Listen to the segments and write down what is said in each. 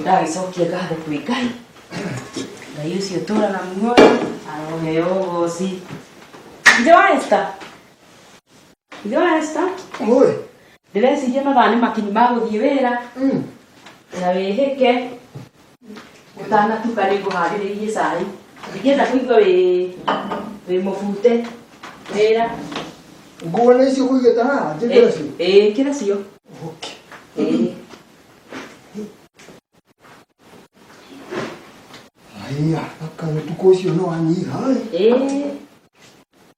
ndagĩcokia ngatho kwĩ ngai ngai ũcio ũtũraga muoyo aroheo ũgoci ithe wa esta ithe wa esta Oi. ndĩreciria mathaa nĩ makinyi ma gũthiĩ wĩra na wĩhĩke Ũtanatuka nĩ ngũharĩrĩirie cai. Ndingĩenda kũigua wĩ wĩ mũbute. Wĩra. Nguo nĩ icio kũigĩte haha, njĩkĩre cio? Ĩĩ, ĩkĩra cio. Okay. Ĩĩ. Haya, aka ũtukũ ũcio nĩ wanyiha. Ĩĩ.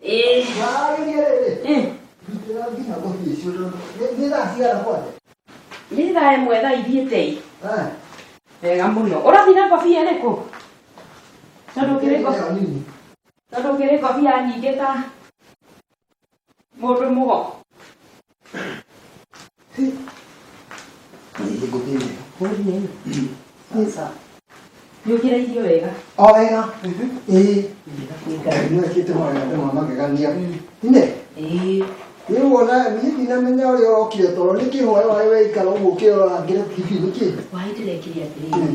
Eh. Eh. Nĩ thaa ĩmwe thaa ithiĩte i. Wega mũno. Ũrathiĩ na ngobia ĩrĩkũ? Tondũ kĩrĩ ngobia. Tondũ kĩrĩ ngobia nyingĩ ta mũndũ mũgo. Nyugire irio wega. O wega. Ĩĩ. Nĩ ekĩte mawega ma magegania. Nĩ? Ĩĩ. Nĩ wona niĩ ndinamenya ũrĩa ũrokire toro nĩ kĩhoya waĩ weikara ũguo ũkĩrora ngĩre TV nĩ kĩĩ? Waĩ ndĩrekire atĩrĩrĩ.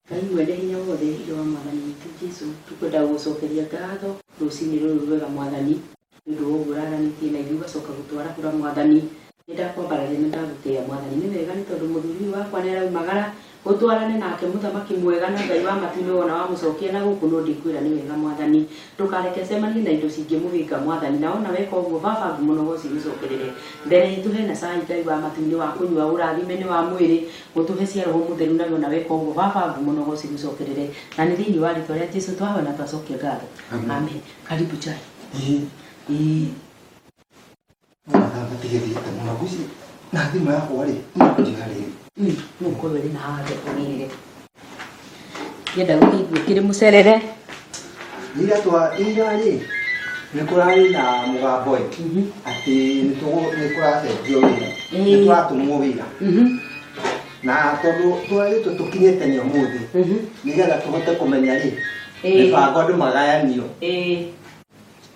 Ngai mwene hinya wothe, Ithe wa Mwathani witũ Jesu, tũkwenda gũgũcokeria ngatho rũcinĩ rũrũ rwega Mwathani, nĩ ũndũ wa ũguo ũraranĩtie na ithuĩ ũgacoka gũtwarahũra Mwathani. Nĩ ndakwambararia na ndagũtĩĩa Mwathani. Nĩ wega nĩ tondũ mũthuri ũyũ wakwa nĩ araumagara, ũtwarane nake mũthamaki mwega na Ngai wa matu-inĩ wona wamũcokia na gũkũ no ndĩkwĩra nĩ wega Mwathani. Ndũkareke acemanie na indo cingĩmũhĩnga Mwathani, na wona weka ũguo Baba ngumo no gũcigũcokerere. Mbere itũ hena cai Ngai wa matu-inĩ wa kũnyua ũrathime nĩ wa mwĩrĩ, Gũtũhe cia roho mũtheru nawe ona weka ũguo baba ngumo na ũgoci igũcokerere na nĩ thĩinĩ wa rĩtwa rĩa Jesu twahoya na twacokia ngatho Amen. amen karibu chai Ĩĩ. Ĩĩ. Mathaga tigĩthiĩte mũno guci na thimũ yakwa rĩ nĩkũnjĩra rĩrĩ Mm, nũkorwe rĩ na handũ ũrĩrĩre Ngĩenda gũthiĩ ngwĩkĩre mũcerere. Ira twa ira rĩ nĩ kũrarĩ na mũgambo ĩ Mhm. atĩ nĩ tũgũ- nĩ kũracenjio wĩra Ĩĩ. nĩ tũratũmwo wĩra Mhm. na tondũ twarĩtwo tũkinye tene ũmũthĩ Mhm. nĩgetha tũhote kũmenya rĩ Ĩĩ. mĩbango andũ magayanio Ĩĩ.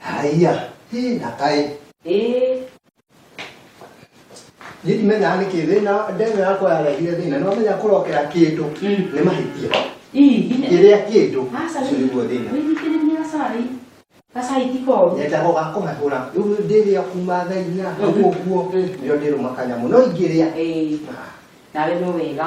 Haiya, hii na kai. Eh. Niĩ ndimenyaga nĩkĩ thĩna ndeme yakwa yarehire thĩna nĩ wamenya kũrokera kĩndũ Mm. nĩ mahĩtia Ii, ine. kĩrĩa kĩndũ Asa ũcio nĩguo thĩna Nĩnyitĩrĩria gacai. Gacai ti koru. nyendaga gakũhehũra rĩu ndĩrĩa kuma thaa inya hau ũguo Mm. nĩo ndĩrũma kanyamũ no ingĩrĩa Eh. Nawe no wega.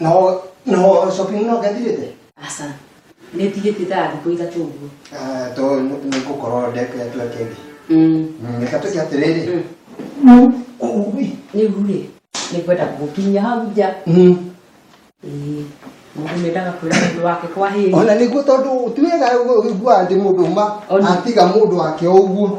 No no shopping no gathirite. Asa. Nĩ tigĩte ta thikũ ithatũ ũguo. Ah to nĩ ngũkorwo ndeke twa kendi. Mm. Reka tũke atĩrĩrĩ. Mm. Ũguĩ. Nĩ ũguĩ. Nĩ kwenda gũkinya hau nja. Mm. Ĩĩ. Mũndũ mendaga kwĩra mũndũ wake kwa hĩĩ. Ona nĩguo tondũ ti wega ũiguaga atĩ mũndũ uma atiga mũndũ wake o ũguo.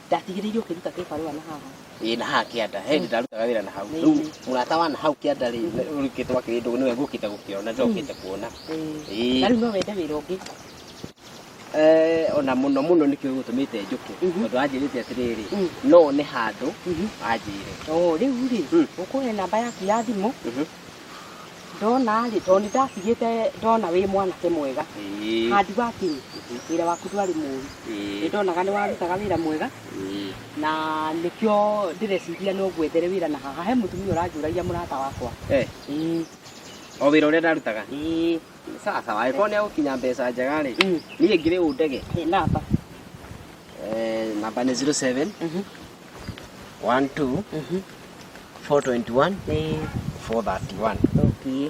ndatigĩrĩirwo ũkĩruta kĩbarũa na haha ĩ na haha kĩanda he hĩndĩ ndarutaga wĩra na hau Nĩ. rĩu mũrata wa na hau kĩanda rĩ ũrĩkĩtwo akĩrĩ ndũgũ nĩwe ngũkĩte gũkĩona njokĩte kuona Ĩĩ. na rĩu no wende wĩra ũngĩ Eh, ona mũno mũno nĩkĩo gũtũmĩte njũke Mhm. tondũ anjĩrĩte atĩrĩrĩ Mm. no one handũ Mhm. anjĩre Oo, rĩu rĩ Mm. ũkũhe namba yaku ya thimũ Mhm. ndona rĩ tondũ nĩ ndatigĩte ndona wĩ mwanake mwega Ĩĩ. handi wakinyi wĩra waku ndwarĩ mũru Ĩĩ. nĩ ndonaga nĩ warutaga wĩra mwega Ĩĩ. na nĩkĩo ndĩreciria no ngwethere wĩra na haha he mũtumia ũranjũragia mũrata wakwa Eh, Ĩĩ, o wĩra ũrĩa ndarutaga ĩĩ, sawa sawa angĩkorwo nĩ agũkinya mbeca njega rĩ mm, niĩ ngĩrĩ ũndege ĩĩ, namba Eh, namba nĩ 07 mhm, 1 2 Mhm. 421 Ĩĩ, 431 okay.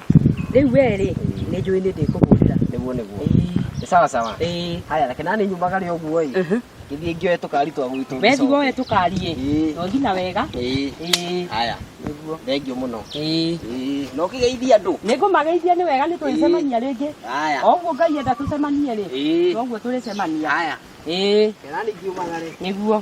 rĩu we rĩ nĩ njũĩ nĩ ndĩkũhũrĩra nĩguo nĩguo Ĩĩ, nĩ sawa sawa ĩĩ. haya reke nani nyumaga rĩ ũguo ĩ Mhm. gĩthiĩ ngĩoe tũkari twa gwitũ we thigo we tũkariĩ Ĩĩ. tũthi na wega Ĩĩ. Ĩĩ, haya nĩguo thengiũ mũno Ĩĩ. Ĩĩ. na ũkĩgeithia andũ nĩ ngũmageithia nĩ wega nĩ tũrĩcemania rĩngĩ haya o ũguo ngai enda tũcemanie rĩ Ĩĩ. noguo tũrĩcemania haya ĩĩ reke nani ngiumaga rĩ nĩguo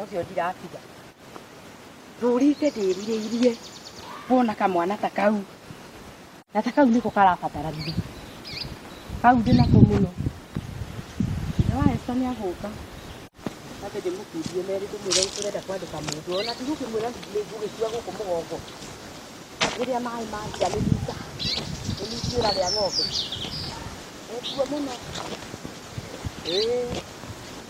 ũcio ndiratiga ndũrĩte ndĩrirĩirie kuona kamwana ta kau na ta kau nĩko karabatarania kau ndĩnako mũno na waesta nĩ agũka atĩ ndĩmũkundie merĩ ndĩmwĩre nĩ tũrenda kwandĩka mũndũ ona ndigũkĩmwĩra ndigirĩ ngũgĩtua gũkũ mũgongo rĩrĩa maĩ manjia nĩ nyita nĩ nyitiũra rĩa ng'ombe nĩkuo mũno ĩĩ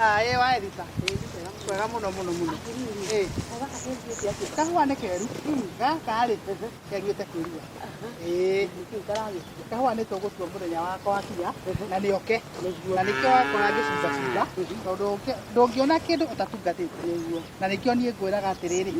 Ah, ĩ wa Erika. Kwega mũno mũno mũno. Ĩ. Kahũa nĩ keru. Gaka rĩ, kariũte kwĩrua. Ĩ. Kahũa nĩ tũgũtua mũthenya wakwa wakinya na nĩ oke. Na nĩkĩo wakora ngĩcumba cumba tondũ ũngĩ- ndũngĩona kĩndũ ũtatungatĩte. Na nĩkĩo niĩ ngwĩraga atĩrĩrĩ,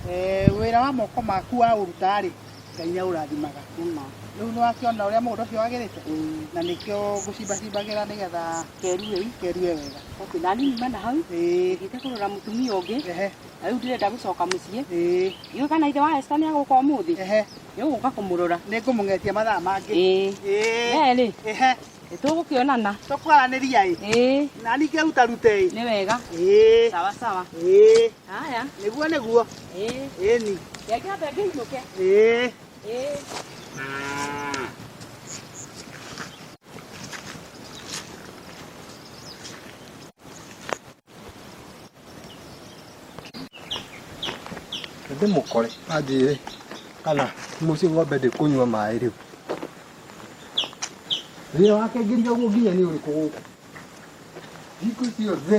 eh, wĩra wa moko maku waũruta rĩ, Ngai nĩ aũrathimaga. Nĩma. Rĩu nĩ wakĩona ũrĩa mũgũnda ũcio wagĩrĩte? Mm. Na nĩkĩo ngũcimbacimbagĩra nĩgetha keruhe i, keruhe wega. Okay, na nini mana hau. Ĩĩ. Ngĩte kũrora mũtumia ũngĩ. Ehe. Na rĩu ndirenda gũcoka mũciĩ. Ĩĩ. Iũĩ kana ithe wa Esther nĩ agũka ũmũthĩ? Ehe. Nĩ ũgũka kũmũrora. Nĩ ngũmũng'etia mathaa mangĩ. Ĩĩ. Ĩĩ. Merĩ. Ehe. Nĩ tũgũkĩonana. Tũkwaranĩria ĩ. Ĩĩ. Na ningĩ ruta rute ĩ. Nĩ wega. Ĩĩ. Sawa sawa. Ĩĩ. Haya. Nĩguo nĩguo. Eh. Ĩni. Reke ambe ngĩinũke. Ĩĩ. Eh. ndĩmũkore anjĩre kana mũciĩ ng'ombe ndĩkũnyua maĩ rĩu wĩra wake ngiria ũguo nginya nĩ ũrĩkũ gũkũ thikũ ciothe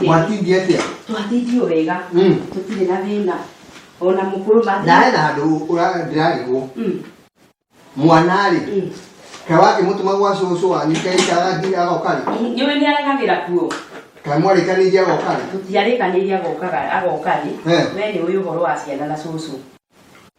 Mwatingi atia? Twatindio wega. Mm. Tutire na thina. Ona mukuru mathi. Na ena andu ndirarigwo. Mm. Mwana ri. Mm. Kaĩ wakĩmũtũma gwa cũcũ wanyu kaĩ karathiĩ agoka rĩ? Nĩwe nĩaragagĩra kuo. Kaĩ mwarĩkanĩirie agoka rĩ? Tũtiarĩkanĩirie agoka rĩ. Wee nĩũĩ ũhoro wa ciana na cũcũ.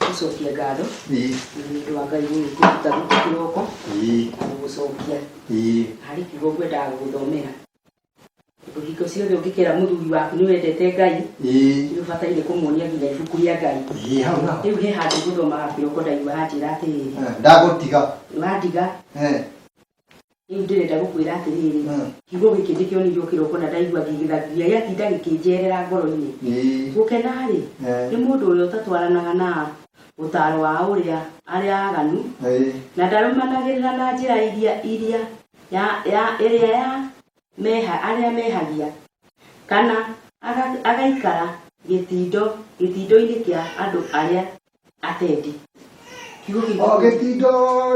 gũcokia ngatho Ii. na nĩ ũndũ wa ngai gũgĩkũruta gũkũ kĩroko Ii. na gũgũcokia Ii. harĩ kiugo ngwendaga gũgũthomera tondũ hingo ciothe ũngĩkera mũthuri waku nĩ wendete ngai Ii. nĩ ũbataire kũmuonia nginya ibuku rĩa ngai Ii, hau naho. rĩu he handũ ngũthomaga kĩroko ndaigua hanjĩra atĩrĩrĩ Ah, ndagũtiga nĩwandiga Eh, rĩu ndĩrenda gũkwĩra atĩrĩrĩ Mm. kiugo gĩkĩ ndĩkĩonirio kĩroko na ndaigua ngĩgĩthagia gĩatinda gĩkĩnjerera ngoro-inĩ Ĩĩ. gũkena-rĩ Eh. nĩ mũndũ ũrĩa ũtatwaranaga na ũtaro wa ũrĩa arĩa aganu Ĩĩ. na ndarũmanagĩrĩra na njĩra iria iria ya, ya, ĩrĩa ya meha, arĩa mehagia kana aga, agaikara gĩtindo gĩtindo-inĩ kĩa andũ arĩa atendi kiugo kĩu o gĩtindo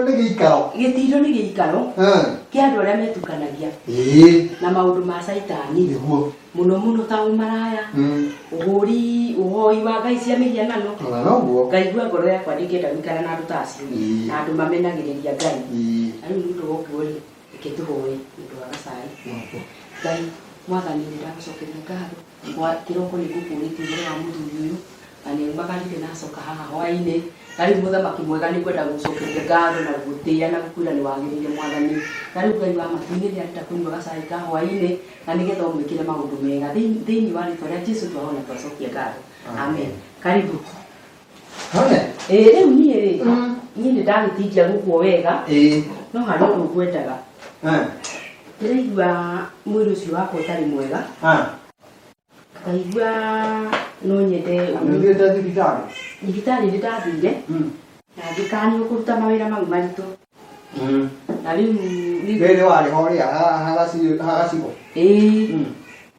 nĩ gĩikaro gĩtindo nĩ gĩikaro Eh, kĩa andũ arĩa metukanagia ĩĩ na maũndũ ma caitani nĩguo mũno mũno ta ũmaraya Mm, ũhũri ũhoi wa ngai cia mĩhianano ona noguo ngaigua ngoro yakwa ndĩngĩenda gũikara na andũ ta acio Mm. na andũ mamenagĩrĩria ngai Ĩĩ. na rĩu nĩ ũndũ woguo rĩ Reke tũhoe nĩ ũndũ wa gacai. Ngai mwathani nĩ ndagũcokeria ngatho. Kĩroko nĩ ngũkũũrĩtie ũhoro wa mũthuri ũyũ na nĩ aumagarire na acoka haha hwaĩ-inĩ. Na rĩu mũthamaki mwega nĩ ngwenda gũgũcokeria ngatho na gũgũtĩĩa na gũkwĩra nĩ wagĩrĩire mwathani. Na rĩu Ngai wa matu nĩ ndĩrenda kũnyua gacai ka hwaĩ-inĩ na nĩ getha ũmwĩkĩre maũndũ mega. Thĩinĩ wa rĩtwa rĩa Jesu twahoya na twacokia ngatho. Amen. Karibu. Hone? ĩ rĩu niĩ rĩ Mm. niĩ nĩ ndagĩtinjia gũkuo wega Ĩĩ. no harĩ ũndũ ngwendaga Ah. ndĩraigua mwĩrĩ ũcio wakwa ũtarĩ mwega Ah. ngaigua no nyende Nĩũthiĩte thibitarĩ? thibitarĩ nĩ ndathire Mm. na ngĩkanio kũruta mawĩra mau maritũ Mm. na rĩu Rĩrĩ warĩ ho rĩa ha- ha gaci- ha gacigo. ĩĩ Mm.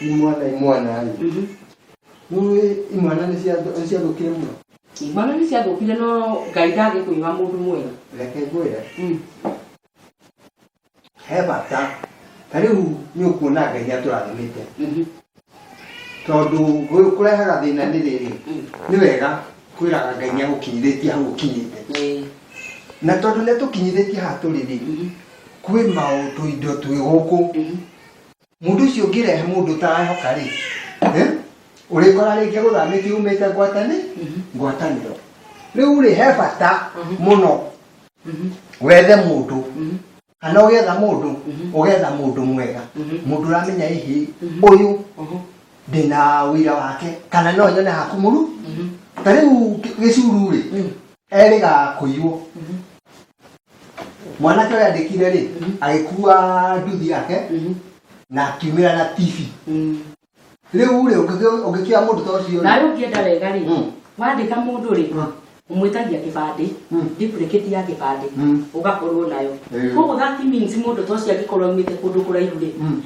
imwana imwana rĩ Mhm. nĩũĩ imwana nĩ cia- nĩ ciathũkire mũno imwana nĩ ciathũkire no ngai ndangĩkũiga mũndũ mwega reke ngwĩre Mm. he bata ta rĩu nĩ ũkuona ngai nĩ atũrathimĩte Mhm. tondũ gũ- kũrehaga thĩna nĩ rĩrĩ Mm. nĩ wega kwĩraga ngai nĩ agũkinyithĩtie hau ũkinyĩte Eh, na tondũ nĩ atũkinyithĩtie haha tũrĩ rĩ mhm. kwĩ maũndũ indo twĩ gũkũ Mhm. mundu ucio ngirehe mundu tarahoka ri urikora ringi guthamiti umite ngwatani ngwataniro riu ri he bata muno wethe mundu kana ugetha mundu ugetha mundu mwega mundu uramenya hihi uyu ndina wira wake kana no nyone hakumuru ta riu gicuru ri eriga kuiywo mwanake ũrĩa andĩkire rĩ agĩkua nduthi yake na akiumĩra na tv rĩu rĩ ũngĩkĩoya mũndũ ta ũcio rĩ, nawe ũngĩenda wega rĩ Mm. wandĩka mũndũ rĩ Mm. ũmwĩtagia kĩbandĩ Mm. ndipurĩkĩti ya kĩbandĩ Mm. ũgakorwo nayo Eh. koguo that means mũndũ ta ũcio angĩkorwo aumĩte kũndũ kũraihu rĩ Mm.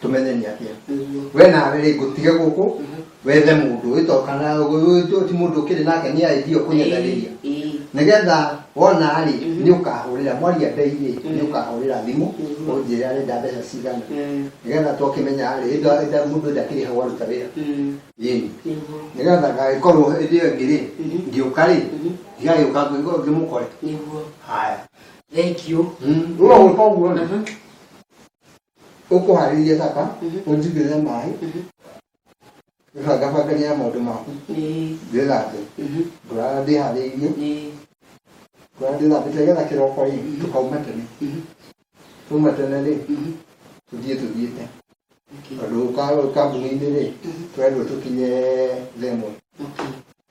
tũmenyeni atĩa we nawe rĩ ngũtige gũkũ wethe mũndũ ũyũ to kana ũyũ ti- ti mũndũ ũkĩrĩ nake nĩ aidio kũnyendarĩria nĩgetha wona rĩ nĩ ũkahũrĩra mwaria mbei rĩ nĩ ũkahũrĩra thimũ Mhm. ũnjĩre arenda mbeca cigana nĩgetha twakĩmenya rĩ ĩndĩ- ĩndĩ mũndũ ndakĩrĩhagwo aruta wĩra yeni nĩgetha gagĩkorwo ĩndĩ ĩyo ĩngĩ rĩ Mhm. ngĩũka rĩ Mhm. ndigagĩũka ngĩkorwo ngĩmũkore nĩguo haya thengiũ Mm, ũguo ũguo ũguo Mhm. ũkũharĩrie sapa ũnjigĩrĩre maĩ bangabangani ya maũndũ maku Ĩĩ. ndĩthambe Mhm. ngorara ndĩharĩirie Ĩĩ. ngorara ndĩthambĩte getha kĩroko rĩ tũkauma tene Mhm. tuma tene rĩ Mhm. tũthiĩ tũthiĩte Okay. tondũ ka- kambuni-inĩ rĩ twendwo tũkinye themwe Okay.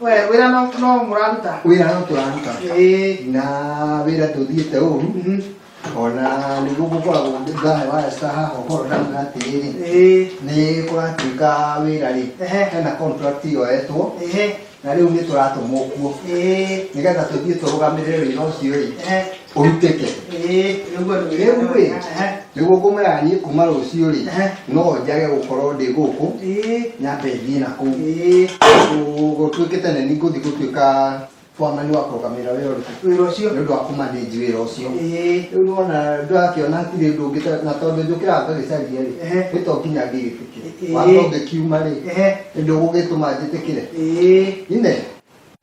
we wira no no muraruta wira no turaruta eh na wira tuthiite uru mhm. ona niguo gukoragwo ngahe wa esta haha ũkorwo ndauga atĩrĩrĩ eh. nĩ kũratuĩka wĩra rĩ hena contract yoetwo na rĩu nĩ tũratũmwo kuo eh. nĩgetha tũthiĩ tũrũgamĩrĩre wĩra ũcio rĩ ũrutĩke Eh, rĩu andũ rĩu ĩ Eh, nĩguo ngũmwĩra niĩ kuma rũciũ rĩ Ehe. no njage gũkorwo ndĩ gũkũ eh, nyambe thiĩ na kũu eh, gũtuĩke tene nĩ ngũthiĩ gũtuĩka bwamani wa kũrũgamĩrĩra wĩra ũrĩkũ wĩra ũcio nĩ ũndũ wa kũmanĩnji wĩra ũcio Eh, rĩu nĩwona ndakĩona hatirĩ ũndũ ũngĩ ta- na tondũ njũkĩra ngagĩcaria rĩ Ehe. nĩ to nginya ngĩgĩtĩkĩre Eh. watho ũngĩkiuma rĩ Eh. nĩ ndũgũgĩtũma njĩtĩkĩre eh. ine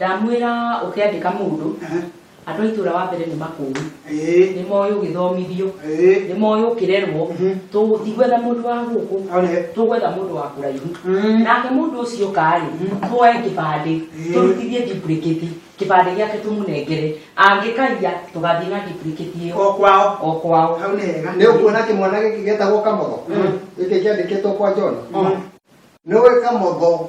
Ndamwĩra ũkĩandĩka mũndũ, Ehe. andũ a itũra wa mbere nĩ makũũi, Ĩĩ. nĩ moĩ ũgĩthomithio, Ĩĩ. nĩ moĩ ũkĩrerwo, Mhm. tũ- tigwetha mũndũ wa gũkũ, One. tũgwetha mũndũ wa kũraihu. Mm. Nake mũndũ ũcio ũkarĩ, twoe kĩbandĩ, Ĩĩ. tũrutithie duplicate, kĩbandĩ gĩake tũmũnengere, angĩkaiya tũgathiĩ na duplicate ĩyo O kwao. o kwao. Hau nĩ hega. nä å kuona kä mwana gä kä getagwo kamotho gä kä kä andä kä two kwa jona nä å ä kamotho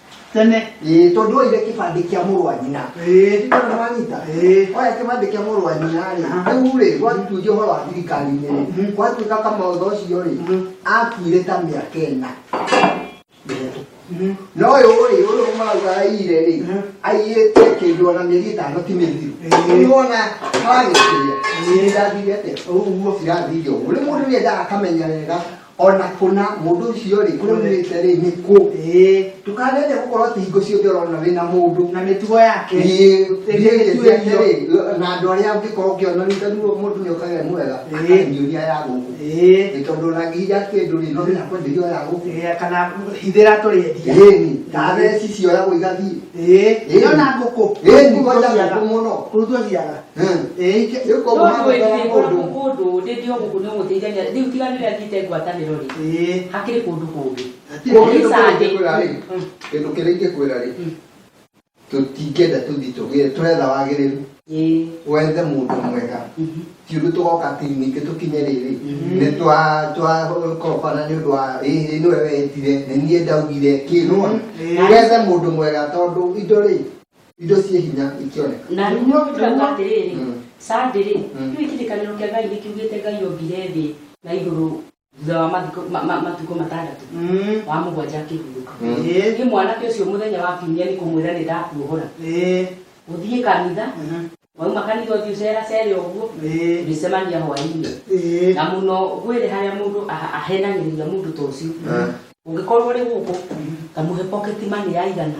tene ĩĩ tondũ oire kĩbandĩ kĩa mũrũ wa nyina ĩĩ kana nĩwanyita ĩĩ oya kĩbandĩ kĩa mũrũ wa nyina rĩ Aha. rĩu rĩ gwatuĩria ũhoro wa thirikari-inĩ rĩ Mhm. gwatuĩka kamotho ũcio rĩ Mhm. akuire ta mĩaka ĩna mĩhetũku Mhm. no ũyũ rĩ ũyũ marauga aire rĩ Mhm. aiyĩte kĩndũ ona mĩeri ĩtano ti mĩthiru Ĩĩ. nĩwona haragĩkĩria Ĩĩ. irathire atĩa ũguo cirathire ũguo rĩu mũndũ nĩendaga akamenya wega ona kũna mũndũ ũcio rĩ kũrĩa umĩte rĩ nĩ kũ ndũkanende gũkorwo atĩ hingo ciothe ũrona wĩna mũndũ na mĩtugo yake na andũ arĩa ũngĩkorwo ũkĩona rita ruo mũndũ nĩ ũkagĩa mwega akanyihia ya gũkũ nĩ tondũ ũnangĩhia kĩndũ rĩ no nginya kwenderio ya gũkũ kana hithĩra tũrĩendia na theci cioyagwo igathiĩ ĩno na ngũkũ ĩni kwanja ngũkũ mũno kũrutwo ciaga kũndũ ndĩndĩ gũkũ nĩ gũteithania rĩu tiga nĩ rĩa thiĩte ngwatanĩro rĩ hakĩrĩ kũndũ kũngĩ kĩndũ kĩrĩa ingĩkwĩra rĩ tũtingĩenda tũthi tũgĩe tũretha wagĩrĩru wethe mũndũ mwega ti ũndũ tũgoka atĩ ningĩ tũkinye rĩrĩ nĩ twakorobana nĩ ũndũ wa ĩĩ nĩwe wetire nĩ niĩ ndaugire kĩ nĩwona wethe mũndũ mwega tondũ indo rĩ indo ciĩ hinya ikĩoneka na rĩu nĩ ũgĩtũraga atĩrĩrĩ Mm. sandĩrĩ Mm. rĩu kĩrĩkanĩro kĩa ngai nĩkiugĩte ngai ombire thĩ na igũrũ thutha wa mathikũ- ma- ma- matukũ matandatũ Mm. wa mũgwanja akĩhurũka Mm. Eh, niĩ mwanake ũcio mũthenya wa kiumia nĩ kũmwĩra nĩ ndakuohora eh, ũthiĩ kanitha aha, wauma kanitha ũthiĩ ũceracere ũguo eh, ũrĩcemania hwainĩ eh, na mũno gwĩrĩ harĩa mũndũ aha- ahenagĩrĩria mũndũ ta ũcio Ah. ũngĩkorwo ũrĩ gũkũ kamũhe pocket money ya igana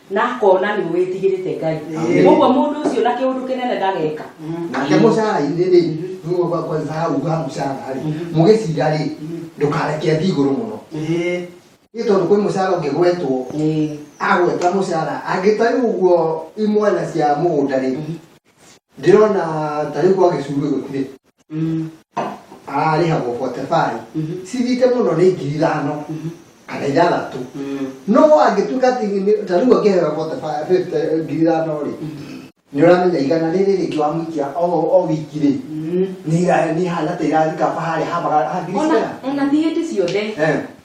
na akona nä å wä tigä rä te ngai Amen. koguo må ndå å cio na kä å ndå kä nene ndageka nake mũcara-inĩ rĩ nĩguo kwa- kwa Isaya uga mũcara rĩ mũgĩcira rĩ ndũkareke thiĩ igũrũ mũno Ĩĩ. nĩ tondũ kwĩ mũcara ũngĩgwetwo Ĩĩ. agweta mũcara angĩ ta rĩu ũguo imwena cia mũgũnda rĩ ndĩrona ta rĩu gwa gĩcuru gũtirĩ Mm. ararĩhagwo botebai Mhm. cithiĩte mũno nĩ ngiri ithano Mhm. kana ithathatũ Mm. no angĩtuĩka atĩ nĩ- ta rĩu angĩheo botebai fifty- ngiri ithano rĩ nĩ ũramenya igana rĩrĩ rĩngĩ wamũikia o o wiki rĩ Mm. nĩ ira- nĩ hana ta irathikaba harĩa hamaga ona ona thiä ndä ciothe Eh.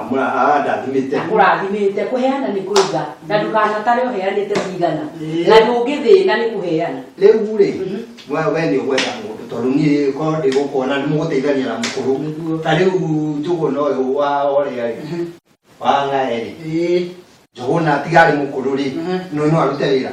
amũrathimĩte amũrathimĩte kũheana nĩ kũiga na ndũkanatare ũheanĩte cigana na ndũngĩthĩna nĩ kũheana rĩu rĩ mhm. we we nĩ ũgwetha mũndũ tondũ niĩ ko ndĩ gũkuona nĩ mũgũteithania na mũkũrũ ta rĩu njũgũna ũyũ wa orĩa rĩ mhm. wa ng'ae rĩ njũgũna tiga arĩ mũkũrũ rĩ mhm. nĩ no arute wĩra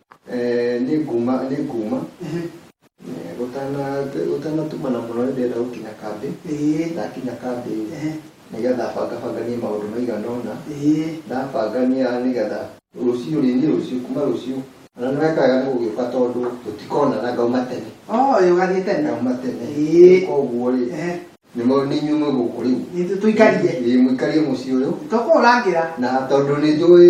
Eh, nĩ nguma nĩ nguma Ehe. Eh, gũtana- gũtanatumana mũno nĩ ndĩrenda gũkinya kambĩ Ĩĩ. ndakinya kambĩ Ehe. nĩgetha bangabanganie maũndũ maigana ũna Ĩĩ. ndabangania nĩgetha rũciũ rĩni rũciũ kuma rũciũ na nĩ weka wega nĩ gũgĩũka tondũ tũtikonana ngauma tene Oh, ĩĩ, ũgathiĩ tene ngauma tene Ĩĩ. koguo rĩ Ehe. nĩ mo- nĩ inyuĩ mwĩ gũkũ rĩu Nĩ tũ- tũikarie Ĩĩ, mũikarie mũciĩ ũyũ tũkũrangĩra na tondũ nĩ njũĩ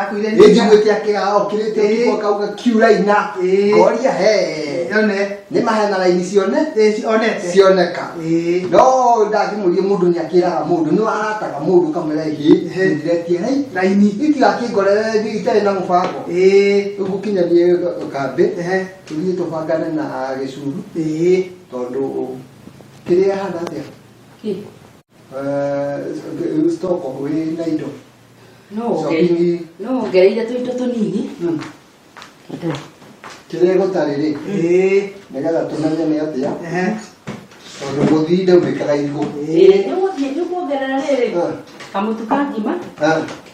Akuire nĩ njiguĩte akĩga okĩrĩte Ĩĩ. ũtukũ akauga kiuraina Ĩĩ. ngoria he Yone. nĩ mahena raini cione Ĩĩ, onete. cioneka Ĩĩ. no ndangĩmũria mũndũ nĩ akĩraga mũndũ nĩ warataga mũndũ kamera hĩ Ĩhĩ. ndiretie rai Raini. itigakĩngorere itarĩ na mũbango Ĩĩ. rĩu gũkinyanie kambĩ Ehe. tũthiĩ tũbangane na gĩcuru Ĩĩ. tondũ kĩrĩa hana atĩa Kĩ? stoko wĩ na indo no wongereire Shopping. no wongereire tũindo tũnini kĩrĩa gũtarĩ rĩ Ĩĩ, nĩgetha tũmenye nĩ atĩa ehe, tondũ gũthii ndaunĩkaga irigũ ĩĩ. nĩgũthiĩ nĩkuongerera rĩrĩ Ah, kamũtu ka ngima ah,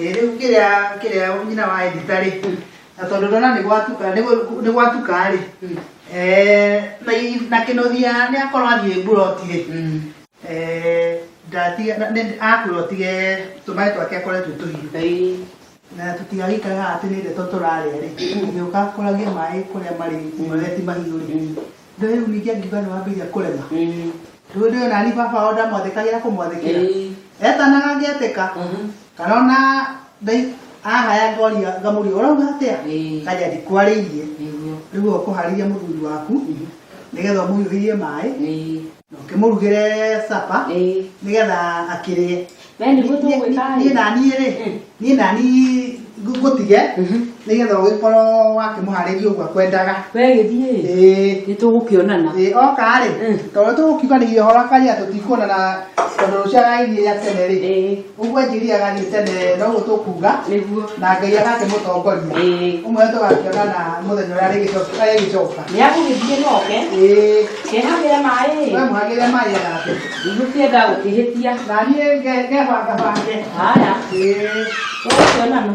Eh, rĩu kĩrĩa kĩrĩa nyina wa edita rĩ na tondũ ndona nĩ gwatuka nĩ gũ- nĩ gwatuka rĩ eh, na i- na kĩnũthia nĩ akorwo athiĩ mburoti rĩ eh, ndatiga na- nĩ- akurotire tũmaĩ twake akoretwo tũhiũ na tũtigagĩikaraga atĩ nĩ ndeto tũrarĩa rĩ gĩũka kũragia maĩ kũrĩa marĩ marĩa ti mahiũ rĩ Na rĩu ningĩ angiuga nĩ wambĩrĩria kũrema Mm. rĩu ndio nani baba wao ndamwathĩkagĩra kũmwathĩkĩra Ĩĩ. etanaga ngĩetĩka Mhm. kana ona ndai ahaya ngoria ngamũria ũrauga atĩa Ĩĩ. kaja ndikwarĩirie Nĩguo. rĩu ũkũharĩria mũthuri waku Mhm. nĩgetha ũmũhiũhĩrie maĩ Ĩĩ. ũkĩmũrugĩre capa Ĩĩ. nĩgetha akĩrĩe We nĩguo tũgwĩka niĩ ĩ. nani rĩ niĩ nani ngũ- ngũtige nĩgetha ũgĩkorwo wakĩmũharĩria ũguo akwendaga We gĩthiĩ ĩ. Ĩĩ. Nĩ tũgũkĩonana. Ĩĩ, oka rĩ Mm. tondũ tũgũkiuga nĩ ihora karia tũtikuonana tondũ rũciarainĩ rĩa tene rĩ Ĩĩ. ũguo anjiriaga niĩ tene no ũguo tũkuga nĩguo na ngai agakĩmũtongoria Ĩĩ. ũmwe tũgakĩona na mũthenya ũrĩa arĩgĩcoka- arĩgĩcoka nĩ agũgĩthiĩ noke Ĩĩ, kehagĩre maĩ we mũhagĩre maĩ anake ndigũkĩenda gũkĩhĩtia na niĩ nge- ngebangabange haya Ĩĩ. tũgũkĩonana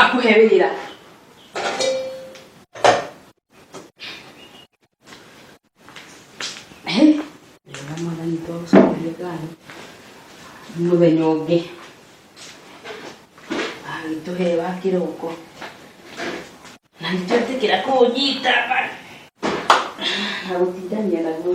akuhe wĩra mũthenya ũngĩ agĩtũhe wa kĩroko na nĩtwetĩkĩra kũnyita na gũtindania naguo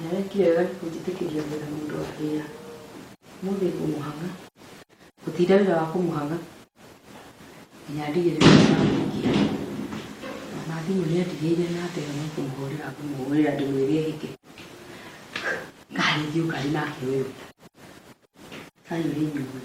Nawe kĩrega kũnjĩtĩkĩria gwetha mũndũ wa wĩra. Ũmũthĩ ngũmũhang'a. Gũtinda wĩra wa kũmũhang'a nginya ndigĩrĩre nĩ ndamũikia. Ona thimũ nĩ andigĩire na ndega no kũmũhũrĩra ngũmũhũrĩra ndĩmwĩre ehĩke. Kaĩ rĩngĩ ũkarĩ nake ũyũ. Kaĩ ũrĩ inyuĩ.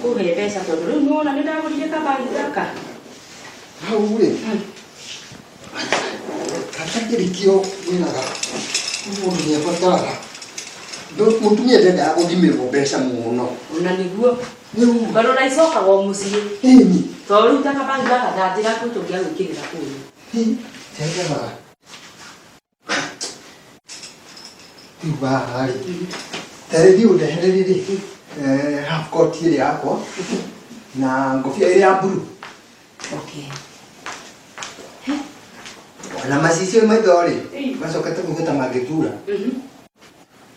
Kũhe mbeca tondũ rĩu nĩwona nĩ ndagũrire kabagi gaka. Hau rĩ, gatakĩrĩkio wĩraga mũndũ nĩ abataraga. Ndũ- Mũtumia ndendaga gũthimĩrwo mbeca mũno. Ona nĩguo. Rĩu Tondũ na icokaga o mũciĩ. ĩni Tondũ rĩu ta kabagi gaka ndanjĩra kũ tũngĩagwĩkĩrĩra kũu. hi, ndendaga rĩu haha rĩ tarĩthiĩ ũndehere rĩrĩ eh, half coat ĩrĩa yakwa na ngobia ĩrĩa ya mburu Okay. na macicio maitho rĩ Ĩĩ. macokete kũgĩta mangĩtura Mhm.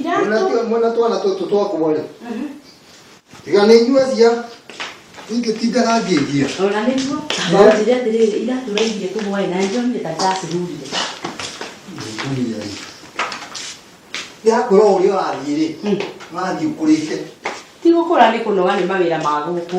Iratũ. Mwena twana tũtũ twakwa rĩ. Tiga nĩ inyua cia. Ingĩtindaga ngĩngia. Ona nĩguo. Ndanjire atĩrĩrĩ iratũ rairie kũ hwaĩ na njomire ta ndacirurire. Ngũmia rĩ. Yakũra ũrĩa ũrathiĩ rĩ. Ũrathiĩ ũkũrĩte. Ti gũkũra nĩ kũnoga nĩ mawĩra ma gũkũ.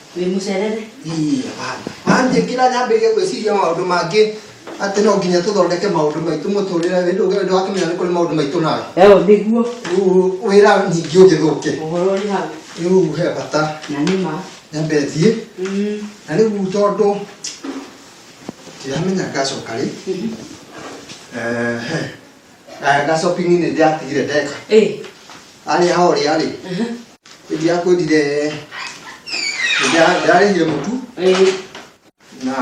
wĩ mũcerere Ii, hapana. Anjĩ ngira nyambĩrĩrie gwĩciria maũndũ mangĩ atĩ no nginya tũthondeke maũndũ maitũ mũtũrĩre wĩndũ ũngĩ wĩndũ wakĩmenya nĩ kũrĩ maũndũ maitũ nawe eo nĩguo Rĩu wĩra ningĩ ũgĩthũke ũhoro ũrĩ hau rĩu he bata na nĩ ma nyambe thiĩ Mm, na rĩu tondũ ndiramenya ngacoka rĩ mhm. Ehe. Aya, ga shopping nĩ ndĩratigire ndeka ĩ arĩa horĩa rĩ Mhm. Ndiakwendire ndarĩhire mũtu na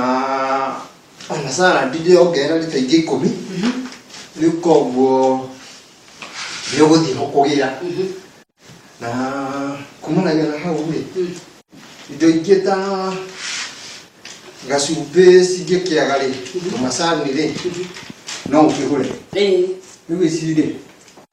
ona salad ndĩrongerera rita ingĩ ikũmi rĩu koguo nĩ ũgũthiĩ ho kũgĩra na kumanagia na hau rĩ indo ingĩ ta gacumbĩ cingĩkĩaga rĩ tũmacani rĩ no ũkĩgũre rĩu ici rĩ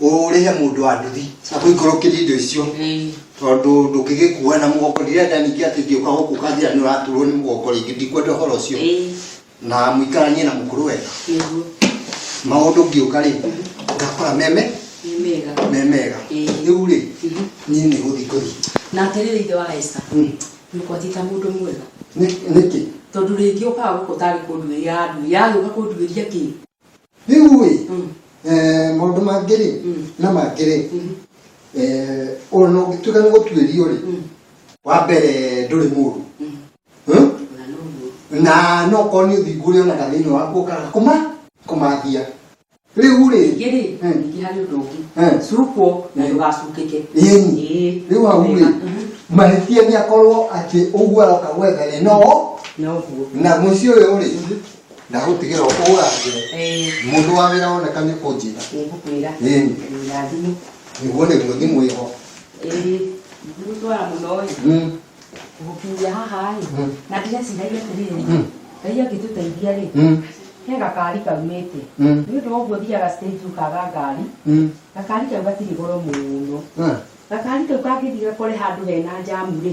ũrĩhe mũndũ wa nduthi akũikũrũkĩrie indo icio tondũ ndũngĩgĩkua na mũgongo ndirenda ningĩ atĩ ngĩũka gũkũ kanjĩra nĩ ũraturwo nĩ mũgongo rĩngĩ ndikwenda ũhoro ũcio na mũikaranie na mũkũrũ wega maũndũ ngĩũka rĩ ngakora meme me mega rĩu rĩ niĩ nĩ gũthiĩ ngũthiĩ na atĩrĩrĩ ithe wa Esther nĩũkwatĩta mũndũ mwega nĩkĩ tondũ rĩngĩ ũkaga gũkũ ũtarĩ kũnduĩria andũ yagĩũka kũnduĩria kĩ rĩu ĩ eh, maũndũ mangĩ rĩ na mangĩ rĩ eh, ona ũngĩtuĩka nĩ gũtuĩrio rĩ wa mbere ndũrĩ mũru Hmm? na no korwo nĩ ũthingu ũrĩa onaga thĩinĩ waku ũkaga kũma kũmathia rĩu rĩ ningĩ rĩ Hmm. ningĩ harĩ ũndũ ũngĩ Hmm. cukwo na ndũgacukĩke Ĩni. Ĩĩ. rĩu hau rĩ Wega. mahĩtia nĩ akorwo atĩ ũguo aroka gwetha rĩ no na ũguo na mũciĩ ũyũ rĩ ndagũtigĩra ũkũra mũndũ wa wĩra woneka nĩ kũnjĩra nĩngũkwĩra irathimo nĩguo nĩguo thimũ ĩho gũtwara mũno ĩ gũkinyia haha ĩ na ndĩreciragia atĩrĩrĩ ngai angĩtũteithia rĩ he gakari kaumĩte nĩ ũndũ wa ũguo thiaga stage ũkaga ngari gakari kau gatirĩ goro mũno gakari kau kangĩthiĩ gakore handũ hena njamu rĩ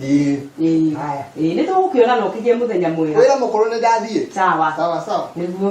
Ĩĩ. Ĩĩ. Haya. Ĩĩ, nĩ tũgũkĩona na ũkĩgĩe mũthenya mwega Wĩra mũkũrũ nĩ ndathiĩ. sawa Sawa sawa. nĩguo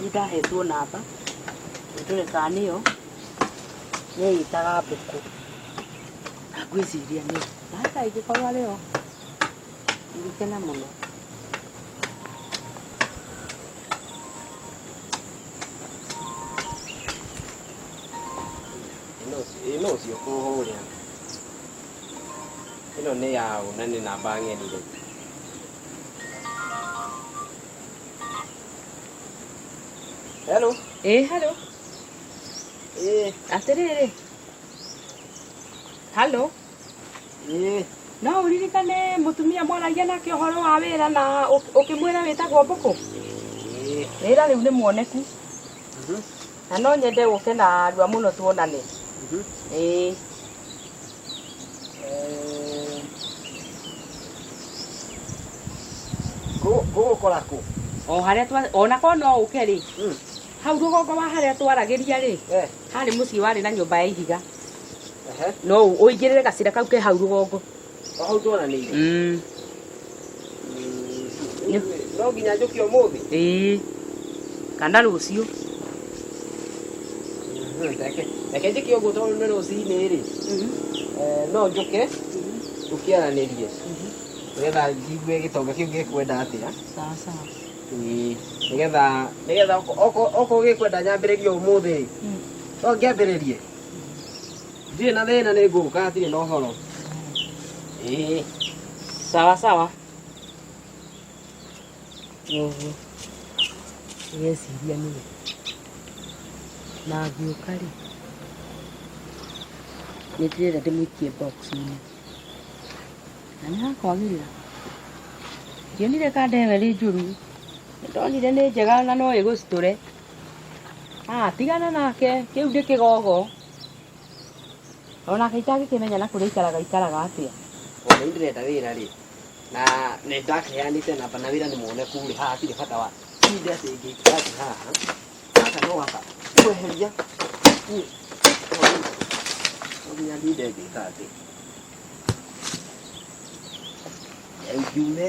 Nĩ ndahetwo namba ndore kana nĩyo nĩĩtaga mbũkũ na ngwĩciria nĩ hata ĩngĩkorwo arĩ yo ingĩkena mũno ĩno ũcio kũhũrĩa ĩno nĩ yaũ na nĩ namba ng'eni rĩ Hello. Ĩ halo. Ĩ. Atĩrĩrĩ. Halo. Ĩ. No ũririkane mũtumia mwaragia nake ũhoro wa wĩra na ũkĩmwĩra wĩtagwo Mbũkũ? Ĩ. Wĩra rĩu nĩ muoneku. Mhm. Na no nyende ũke na rua mũno tuonane. Mhm. Ĩ. gũgũkora kũ o harĩa twa ona ko no ũke rĩ hmm. hau rũgongo wa harĩa twaragĩria rĩ eh. harĩ mũciĩ warĩ na nyũmba ya ihiga no ũingĩrĩre gacĩra kau ke hau rũgongo hau twananĩire hmm. no nginya njũke ũmũthĩ ĩĩ kana rũciũ reke reke njĩke ũguo tondũ nĩ rũcinĩ rĩ eh, no njũke tũkĩaranĩrie nĩgetha njigue gĩtonga kĩu gĩkwenda atĩa sawa sawa Ĩĩ, nĩgetha nĩgetha okorwo gĩkwenda nyambĩrĩrie ũmũthĩ rĩ no ngĩambĩrĩrie Ndirĩ na thĩna nĩ ngũka hatirĩ na ũhoro. Ĩĩ. Sawa sawa. Ũguo. Ngeciria nĩ we. Na ngĩũka rĩ, nĩ ndĩrenda ndĩmũikie box-inĩ. Na nĩ hakwagĩrĩra. Ndionire ka ndewe ĩrĩ njũru. Ndonire nĩ njega na no ĩgũcitũre. Ah, tigana nake, kĩu ndĩkĩgogo. Ona kaita agĩkĩmenya na kũrĩa ikaraga ikaraga atĩa. Ona nĩ ndĩrenda wĩra rĩ, na nĩ ndakĩheanĩte namba na wĩra nĩ muoneku rĩ, haha hatirĩ bata wa tinde atĩ ngĩikara atĩ haha. Gaka no gaka kweheria niĩ no nginya ndinde ngĩka atĩ. Rĩu ngiume.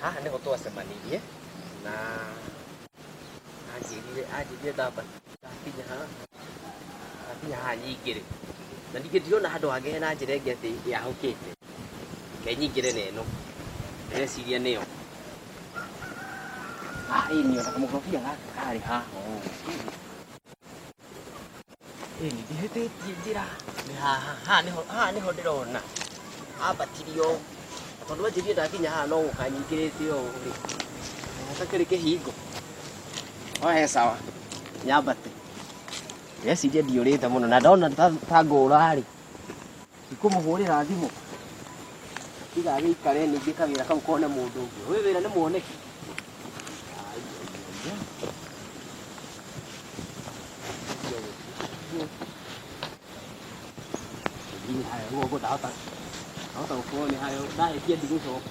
haha nĩho twacemanirie na anjĩrire anjĩrire ndamba ndakinya haha ndakinya haha nyingĩ rĩ na ningĩ ndirona handũ hangĩ hena njĩra ĩngĩ atĩ yahũkĩte ke nyingĩre na ĩno ndĩreciria nĩyo haha ĩĩ nĩyo na kamũkorobia gaka karĩ haha ũũ ĩĩ nĩ ndĩhĩtĩtie njĩra nĩ haha haha nĩho haha nĩho ndĩrona ambatirie ũũ Na tondũ anjĩrie ndakinya haha no gũka nyingĩrĩte ũũ rĩ hatakĩrĩ kĩhingo no he sawa nyambate ndĩreciria ndiũrĩte mũno na ndona ta ta ngũra rĩ Ndikũmũhũrĩra thimũ tiga gĩikare ningĩ kawĩra kau kone mũndũ ũngĩ. Ũyũ wĩra nĩ mwoneki. Nginya haya ũguo ũguo ndahota ndahota gũkorwo nĩ hayo ndahĩtia ndigũcoka.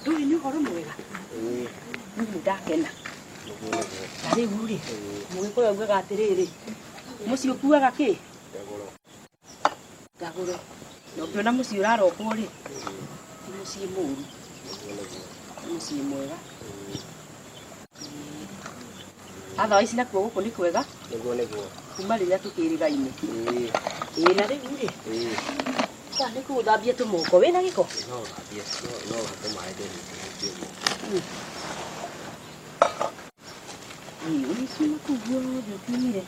ndũĩ nĩ ũhoro mwega niĩ ndakena na rĩu rĩ mũgĩkũyũ augaga atĩrĩrĩ mũciĩ ũkuaga kĩ ndagũro na ũngĩona mũciĩ ũrarokwo rĩ ti mũciĩ mũru nĩ mũciĩ mwega Athawa ici nakuo gũkũ nĩ kwega nĩguo nĩguo kuma rĩrĩa tũkĩrĩga-inĩ. Ĩĩ, Ĩĩ na rĩu rĩ, ĩĩ. ta nĩ kũu ũthambie tũmoko wĩ na gĩko. No thambie, no no hake maĩ ndĩrĩ ndĩrĩkie guo. Ĩĩ ũici nakuo guothe ũkiumire.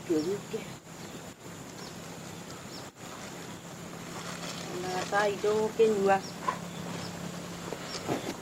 Kĩũke. Na gacai ndũgũkĩnyua.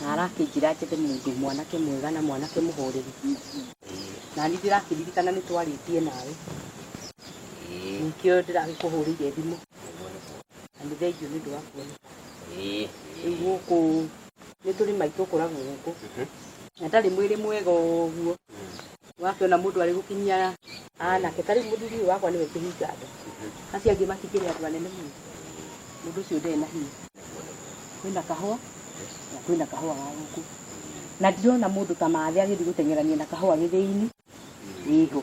Na arakĩnjĩra njethe mũndũ mwanake mwega na mwanake mũhooreri, na niĩ ndĩrakĩririkana nĩ twarĩtie nawe, nĩkĩo ndĩragĩkũhũrĩire thimũ, na nĩ thengiũ nĩ ũndũ wa kuoneka. Rĩu gũkũ nĩ tũrĩma itũkũragwo gũkũ, na ndarĩ mwĩrĩ mwega ũguo, wakĩona mũndũ arĩ gũkinyia anake ta rĩu mũthuri ũyũ wakwa nĩwe kĩhinga andũ acio angĩ matikĩrĩ andũ anene mũno mũndũ ũcio ndarĩ na hinya kwĩna kahũa na kwĩna kahũa ga gũkũ na ndirona mũndũ ta mathĩ agĩthiĩ gũteng'erania na kahũa gĩthĩinĩ ĩho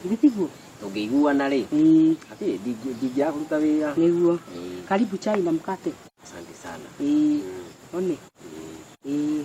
githĩ tiguo tũngĩiguana rĩ Ĩĩ, hatirĩ ndingĩ- ndingĩaga kũruta wĩra nĩguo Ĩĩ, karibu chai na mkate asante sana Ĩĩ, one Ĩĩ. Ĩĩ.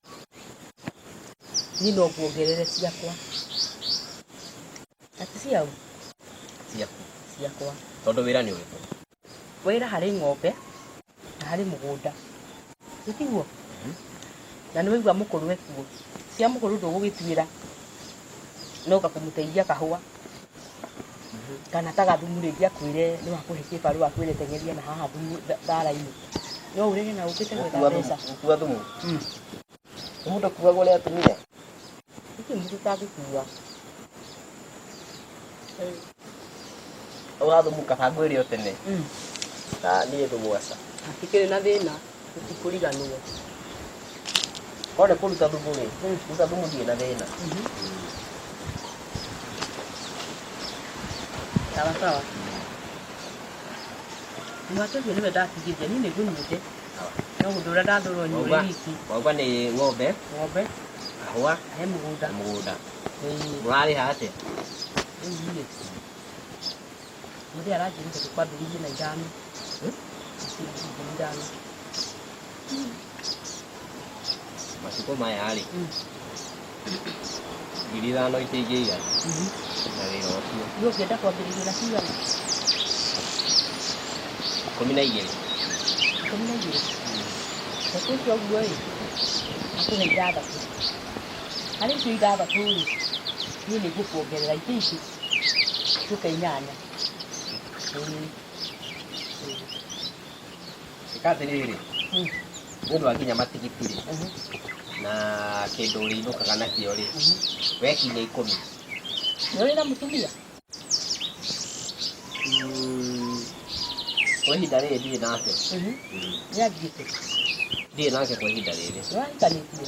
Niĩ no nguongerere ciakwa. Ati ciaũ? Ciaku. Ciakwa. Tondũ wĩra nĩ ũrĩkũ? Wĩra harĩ ng'ombe na harĩ mũgũnda. Ĩ tiguo? Na nĩ waigua mũkũrũ ekuo. Cia mũkũrũ ndũgũgĩtuĩra, no anga kũmũteithia kahũa. kana ta gathumu rĩngĩ akwĩre nĩ wakũhe kĩbarũa akwĩre tengeria na haha thumu tha- thara-inĩ no ũrege na ũkĩte gwetha mbeca gũkua thumu Mm. mũndũ akuaga ũrĩa atumire gũtirĩ mũndũ ũtangĩkua ũrathumuka bangũ ĩrĩ o tene Mm. na niĩ thugwaca hatikĩrĩ na thĩna tũtikũriganĩrwo korwo nĩ kũruta thumu rĩ ruta thumu ndirĩ na thĩna sawa sawa mwaka ũcio nĩwe ndatigithia niĩ nĩngũnyuĩte no ũndũ ũrĩa ndathũrwo nyuĩ Wauga- wiki wauga nĩ ng'ombe ng'ombe kahũa he mũgũnda na mũgũnda Ĩĩ, mũrarĩha atĩa rĩu niĩ Mũthĩ aranjĩrire tũkwa mbiri igĩrĩ na ithano. Ciringi ngiri ithano. matukũ maya rĩ Mm. ngiri ithano itingĩigana Mhm. na wĩra ũcio Nĩ ũngĩenda kwambĩrĩria na cigana? ikũmi na igĩrĩ Ikũmi na igĩrĩ. Reke icio ũguo ĩ, akũhe ithathatũ. Harĩ icio ithathatũ rĩ, niĩ nĩ ngũkuongerera ingĩ ingĩ. Tuta inyanya. Ĩĩ. Ĩka atĩrĩrĩ, Mm. mũndũ akinya matigiti-rĩ, Mhm. na kĩndũ ũrĩinũkaga nakĩo-rĩ, Mhm. we kinya ikũmi. Nĩ ũrĩ na mũtumia? Mm, Kwa ihinda rĩrĩ ndirĩ nake. Mhm. Mm, Nĩ athiĩte. Ndirĩ nake kwa ihinda rĩrĩ. Nĩ wahikanĩtie?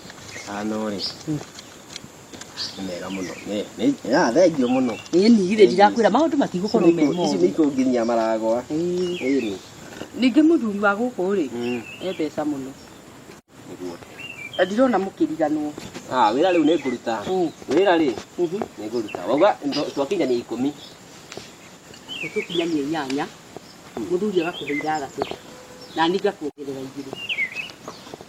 Ano-rĩ, nĩ mega mũno. Nĩ- nĩ- ah, Thengiũ mũno. Ĩni githĩ ndirakwĩra maũndũ matigũkorwo me Ici moru. nĩ ikũnginyia maragwa. Ĩĩ. Ĩni. Ningĩ mũthuri wa gũkũ rĩ, Mm. e mbeca mũno. Nĩguo. Na ndirona mũkĩriganwo. Ah, wĩra rĩu nĩ ngũruta. Mm. Wĩra rĩ, Mhm. nĩ ngũruta. Wauga ndo- twakinyania ikũmi. Ũtũkinyanie inyanya, mũthuri agakũhe ithathatũ, na niĩ ngakuongerera igĩrĩ.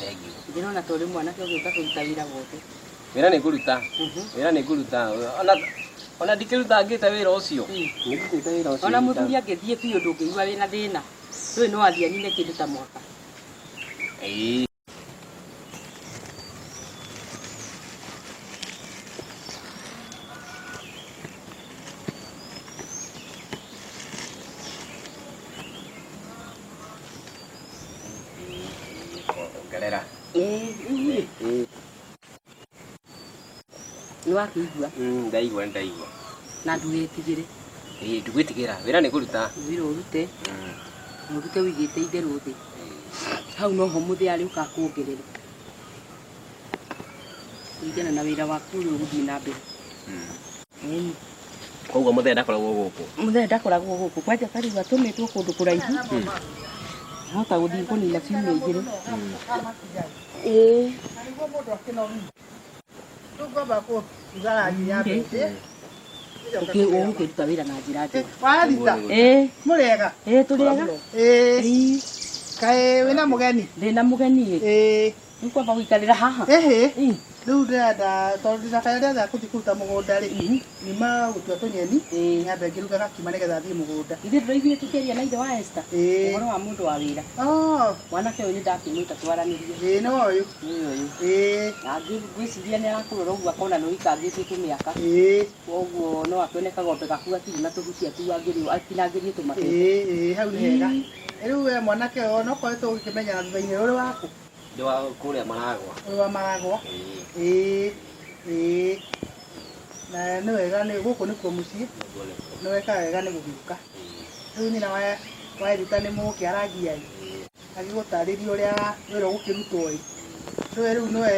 Thengiũ. Ndĩrona ta ũrĩ mwanake ũgĩũka kũruta wĩra wothe. Wĩra nĩ ngũruta, Mhm. wĩra nĩ ngũruta. Ona ona ndikĩrutangĩte wĩra ũcio. Mm. Nĩ ndutĩte wĩra ũcio. Ona nduta- mũthuri angĩthiĩ biũ ndũngĩigua wĩna thĩna. Ndũĩ no athiĩ anine kĩndũ ta mwaka. Ĩĩ. ongerera nĩwakĩigua Mm, ndaigua ndaigua na ndũgetigĩre Ĩĩ, ndugwĩtigĩra wĩra nĩ kũruta wĩra ũrute mũrute ũigĩte itherũ thĩ hau noho mũthĩ arĩ ũkakuongerera kũringana na wĩra waku ũrĩa ũgũthiĩ na mbere Ĩni. koguo mũthee ndakoragwo gũkũ mũthee ndakoragwo gũkũ kwanja tarĩu atũmĩtwo kũndũ kũraihu hota gũthiĩ kũnina ciumia igĩrĩ Ĩĩ. Ũkĩ- ũgũkĩruta wĩra na njĩra njega Warita, Ĩĩ, mũrĩega? ĩĩ, tũrĩega Ĩĩ, Ĩĩ, kaĩ wĩna mũgeni? ndĩna mũgeni ĩ Ĩĩ, Nĩũkwamba gũikarĩra haha? Ĩhĩ, Ĩ, rĩu ndĩrenda tondũ ndĩna kaĩ ndĩrenda kũthi kũruta mũgũnda-rĩ, Mhm. nyuma gũtua tũnyeni, Ĩ. nyambe ngĩruga gakima nĩgetha thiĩ mũgũnda. Ithuĩ tũraiguire tũkĩaria na ithe wa Esther Ĩ. ũhoro wa mũndũ wa wĩra. Oh, Mwanake ũyũ nĩndakĩmwĩta twaranĩrie. ĩ nĩ ũyũ. Nĩ ũyũ. Ĩ, Na ngĩ- ngwĩciria nĩarakũrora ũguo akona nĩũikangĩtie kĩmĩaka. ĩ, Koguo no akĩone kagondu gaku gatirĩ na tũhutia tu angĩrĩ atinangĩrie tũmabebe. ĩ, ĩ, hau nĩ hega. Ĩ, Rĩu we mwanake ũyũ onokoretwo ũgĩkĩmenyana thutha-inĩ ũrĩ waku? Ndĩ wa kũrĩa maragwa. Ũrĩ wa maragwa? Ĩĩ. Ĩĩ. Na nĩ wega nĩ gũkũ nĩkuo mũciĩ. Nĩguo nĩkuo. Nĩ weka wega nĩ gũgĩũka. Rĩu nyina wa wa Eruta nĩ mũkĩaragia-ĩ, agĩgũtarĩria ũrĩa wĩra ũgũkĩrutwo-ĩ, nĩwe rĩu nĩwe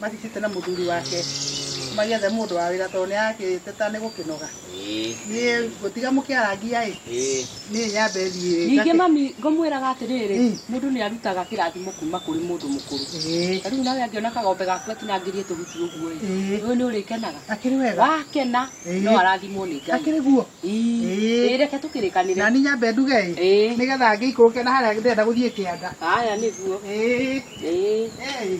mathicite na muthuri wake magiethe mundu wa wira tondu niakiteta ni gukinoga ni ngutiga mukiarangia i ni nyambe thie ningĩ mami ngomwĩraga atĩrĩrĩ Mm. mũndũ nĩ arutaga kĩrathimo kuma kũrĩ mũndũ mũkũrũ ta rĩu nawe angĩona kagombe gaku atinangĩrie tũhuti ũguo ĩ Ĩĩ. ũyũ nĩ ũrĩkenaga akiri wega wakena Ĩĩ. no arathimwo nĩ ngai akiri guo Ĩĩ. Ĩĩ. Ĩĩ, reke tũkĩrĩkanĩre nani nyambe nduge i Ĩĩ. nigetha ngĩikũrũke na haria ndenda guthie kianda haya nĩguo Ĩĩ. Ĩĩ. Ĩĩ.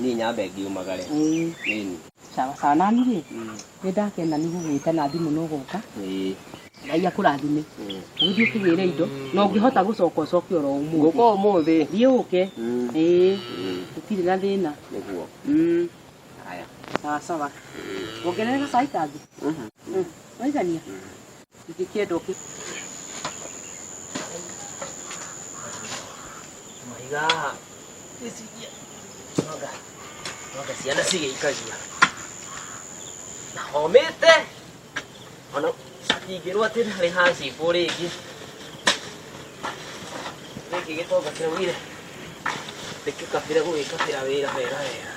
niĩ nyambe ngiumagare Ĩĩ. ĩni sawa sawa nani rĩ nĩ ndakena nĩ gũgwĩta na thimũ no gũka ĩĩ ngai akũrathime ĩĩ. ũgĩthiĩ ũkĩgĩre indo na ũngĩhota gũcoka ũcoke oro ũmũthĩ ngũka ũmũthĩ thiĩ ũke Mm. ĩĩ Ĩĩ, gũtirĩ na thĩna nĩguo Mm, haya sawa sawa ongerere gacai kangĩ Mhm. Mm, waigania ciana cigĩikagia na homĩte ona atingĩrwo atĩ ndarĩ hacibũ rĩngĩ gĩkĩ gĩtonga kĩraugire ndĩkĩkabĩra gũgĩkabĩra wĩra wega wega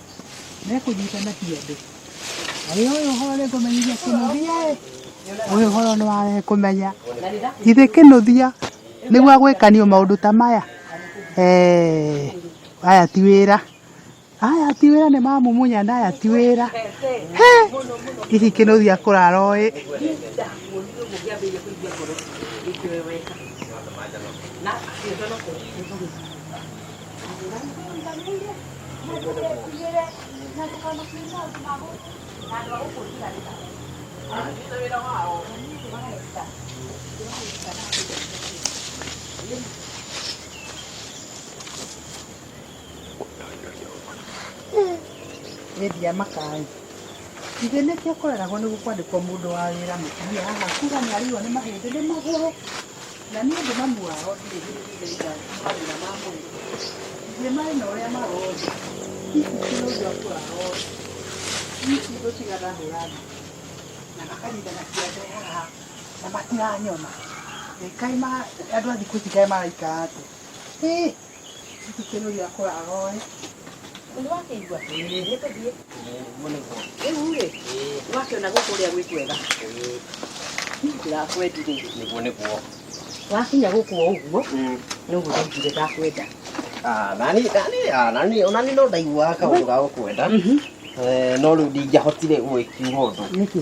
mekũnyita na kĩande ũyũ ũyũ horo nĩ kũmenyithia kĩnũthia ĩ ũyũ horo nĩ ware kũmenya githĩ kĩnũthia nĩguo agwĩkanio maũndũ ta maya Eh, aya ti wĩra aya ti wĩra nĩ mamumunya na aya ti wĩra He, hihi kĩnũthia kũrara ũĩ Wendia makaĩ. Ithe nĩkĩo kũreragwo nĩ kwandĩkwo mũndũ wa wĩra mũtumia haha kuga nĩ arĩirwo nĩ mahĩndĩ nĩ magũrũ. Na niĩ ndĩ mami wao ndirĩ hĩndĩ ndaiga mathĩna ma mwĩrĩ. Ithuĩ marĩ na ũrĩa marothiĩ. Hihi ti ũndũ atũraga othe. Hihi ti ũndũ tiga ndahũra thimũ. Na makanyitana kĩande haha na matiranyona. Ĩ kaĩ ma andũ a thikũ ici kaĩ maraikara atĩa? Hĩ! Thikĩrĩria kũraga oĩ. Nĩ wakĩigua? Nĩ tũthiĩ. Rĩu rĩ, wakĩona gũkũ ũrĩa gwĩ kwega. Ndirakwendire. Nĩguo nĩguo. Wakinya gũkũ o ũguo, nĩ ũguo ndaiguire ndakwenda. Ah, nani nani ah, nani onani no ndaiguaga kaũndũ ga gũkwenda. Eh, no rĩu ndingĩahotire gũgĩkiuga ũndũ. Nĩkĩ?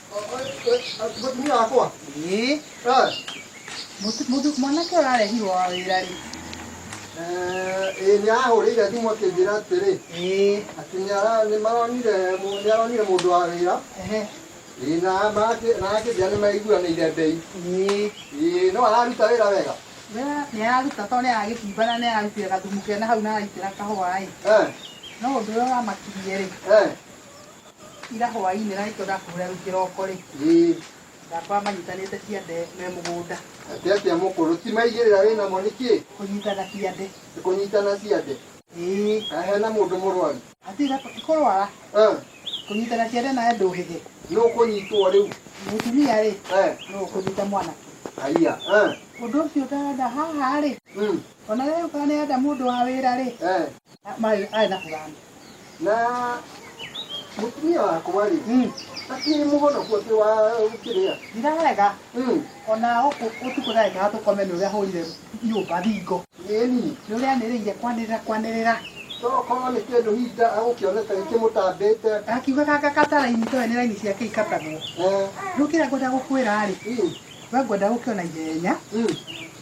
Mũtumia wakwa. Ĩĩ. Mũndũ mwanake ũrarehirwo wa wĩra rĩ. Ĩĩ nĩ ahũrĩire thimũ akĩnjĩra atĩrĩ. Ĩĩ. Atĩ nĩ maronire nĩ aronire mũndũ wa wĩra. Ĩĩ na akĩnjĩra nĩ maiguanĩire mbei. Ĩĩ. No araruta wĩra wega? Nĩ araruta tondũ nĩ aragĩcimba na nĩ ararutĩra gathumu kena hau na araitĩra kahũa ĩ. No ũndũ ũrĩa ũramakirie rĩ. Ira hwainĩ Raito ndakũhũrĩra rĩu kĩroko rĩ, Ĩĩ, ndakora manyitanĩte ciande me mũgũnda atĩ atĩa mũkũrũ, ti maigĩrĩra wĩ namo nĩ kĩ? kũnyitana ciande. Nĩ kũnyitana ciande? Ĩĩ, Kana hena mũndũ mũrwaru? atĩ Ira ti kũrwara, Eh, kũnyitana ciande nawe ndũhĩge. nũ ũkũnyitwo rĩu? Mũtumia rĩ, Eh, nũ ũkũnyita mwana? haiya, eh, Ũndũ ũcio ũtarenda haha rĩ, mm, ona rĩu kana nĩ enda mũndũ wa wĩra rĩ, eh, Mai ai na kulana. na mutumia wakwa rĩ Mm. akiri muhonoku ati wa kiria Ndirarega ona oku utuko na ikaga tukome ni uria hurire nyumba thingo. yeni Ni uria nirire kwanirira kwanirira. tokorwo nĩ kĩndũ hihi nda agũkĩonete gĩkĩmũtambĩte Akiuga kaka kata raini to ni raini ciake ikatagwo. Eh, Riu kira ngwenda gukwira ri, mm, we ngwenda gukiona ihenya mm.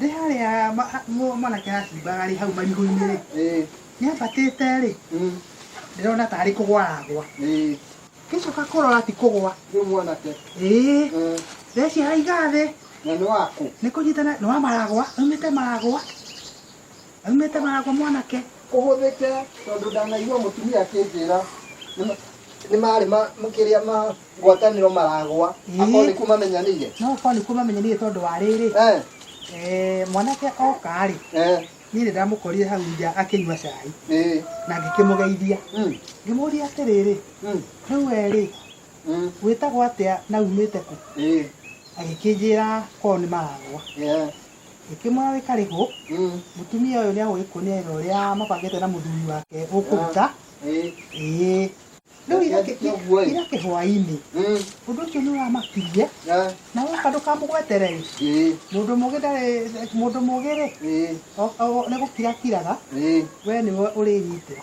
Ndĩ harĩa ma- a- mu- mwanake aracimbaga rĩ hau marigũ-inĩ rĩ Eh, nĩambatĩte rĩ mm, ndĩrona tarĩ kũgwa aragwa eh, ngĩcoka kũrora ti kũgwa nĩ mwanake. ĩĩ Eh, ndeciria haiga thĩ na nĩ waku. nĩ kũnyitana nĩ wa maragwa aumĩte maragwa Aumĩte maragwa mwanake. Ũhũthĩke tondũ ndanaigua mũtumia akĩnjĩra nĩ- nĩ marĩ ma- kĩrĩa ma ngwatanĩro maragwa Ĩĩ. akorwo nĩkuo mamenyanĩire No ũkorwo nĩkuo mamenyanĩire tondũ wa rĩrĩ, Eh, eh, mwanake oka-rĩ, eh, niĩ nĩ ndamũkorire hau nja akĩnyua cai eh, na ngĩkĩmũgeithia. mm, Ngĩmũria atĩrĩrĩ, mm, rĩu we-rĩ, mm, wĩtagwo atĩa na umĩte kũ? eh, Agĩkĩnjĩra korwo nĩ maragwa. eh, Ĩkĩmũra wĩ karĩgũ, mũtumia ũyũ nĩagũgĩkuonia wĩra ũrĩa mabangĩte na mũthuri wake ũkũruta. Ĩĩ. Rĩu ira ira kĩhwainĩ, ũndũ ũcio nĩũramakirie, na woka ndũkamũgwetere-ĩ, mũndũ mũgĩ ndarĩ mũndũ mũgĩ-rĩ, nĩgũkira akiraga, we nĩwe ũrĩnyitĩra.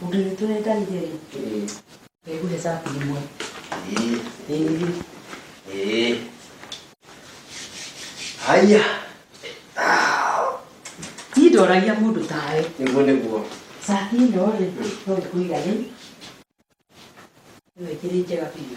Ũndũ nĩ tũrendanire rĩ. Ngũhe cabi ĩmwe. Ĩĩ. Haya. Niĩ ndoragia mũndũ tawe. Nĩguo nĩguo. Cabi ĩno rĩ, no ĩkũigane. Ĩno ĩkĩrĩ njega biũ.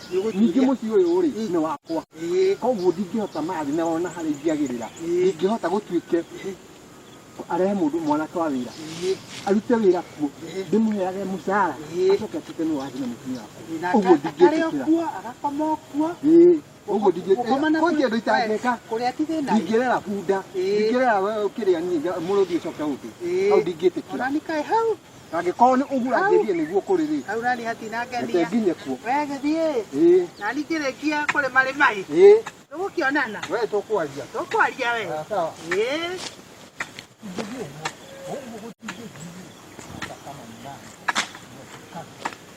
ningĩ mũciĩ ũyũ rĩ nĩ wakwa koguo ndingĩhota mathi na ona harĩa ingĩagĩrĩra ndingĩhota gũtuĩke arehe mũndũ mwanake wa wĩra arute wĩra kuo ndĩmũheage mũcara acoke atuĩke nĩ wathi na mũtumia wakwa ũguo ndingĩtĩkĩra ũguo ndingĩkwanjia ndå itangĩka ndingĩrera bunda ndingĩrera we ũkĩrĩa niĩ mũrũthi ũcoke ũndũ hau ndingĩtĩkĩra na angĩkorwo nĩ ũguo angĩthiĩ nĩguo kũrĩ rĩ hau nani reke hatinangenia nginye kuo we gĩthiĩ ĩĩ nani kĩrĩkia kũrĩ marĩ maĩ ĩĩ tũgũkĩonana we tũkwaria tũkwaria we Sawa, sawa Ĩĩ.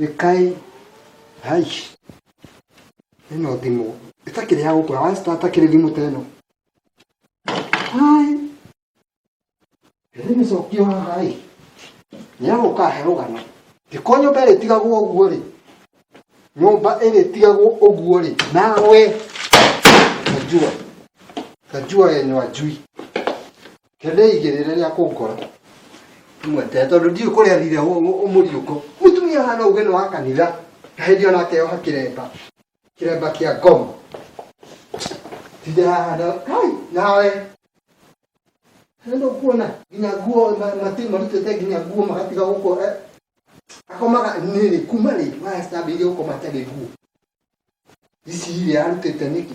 Ĩkai hai ĩno thimũ ĩtakĩrĩ ya gũkũra wa star takĩrĩ thimũ ta ĩno hai rĩmĩcokio haha ĩ nĩ ya gũka he rũgano ndĩko nyũmba ĩrĩtigagwo ũguo rĩ nyũmba ĩrĩtigagwo ũguo rĩ nawe kanjua kanjua yenyu anjui Kende igirire ria kunkora. Mwete tondu ndi kuria thire umuriuko. Mutumia hana uge no akanira. Kahedi ona keo hakiremba. Kiremba kia gomo. Tijara hana kai nawe. Hendo kuona ginya guo mati marutete ginya guo magatiga guko eh. Akomaga niri kuma ri. Wa stabi guko matari guo. Ici iria arutete niki.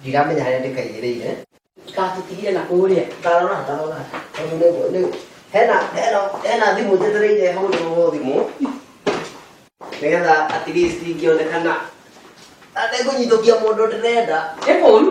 ndiramenya harĩa ndĩkaigĩrĩire ndikatũtigire na kũrĩa ndarora ndarora tondũ nĩ- nĩ- hena hena- hena thimũ njetereire hũrĩrwo thimũ nĩgetha at least ingĩonekana na ndĩkũnyitũkia mũndũ ndĩrenda nĩ kũru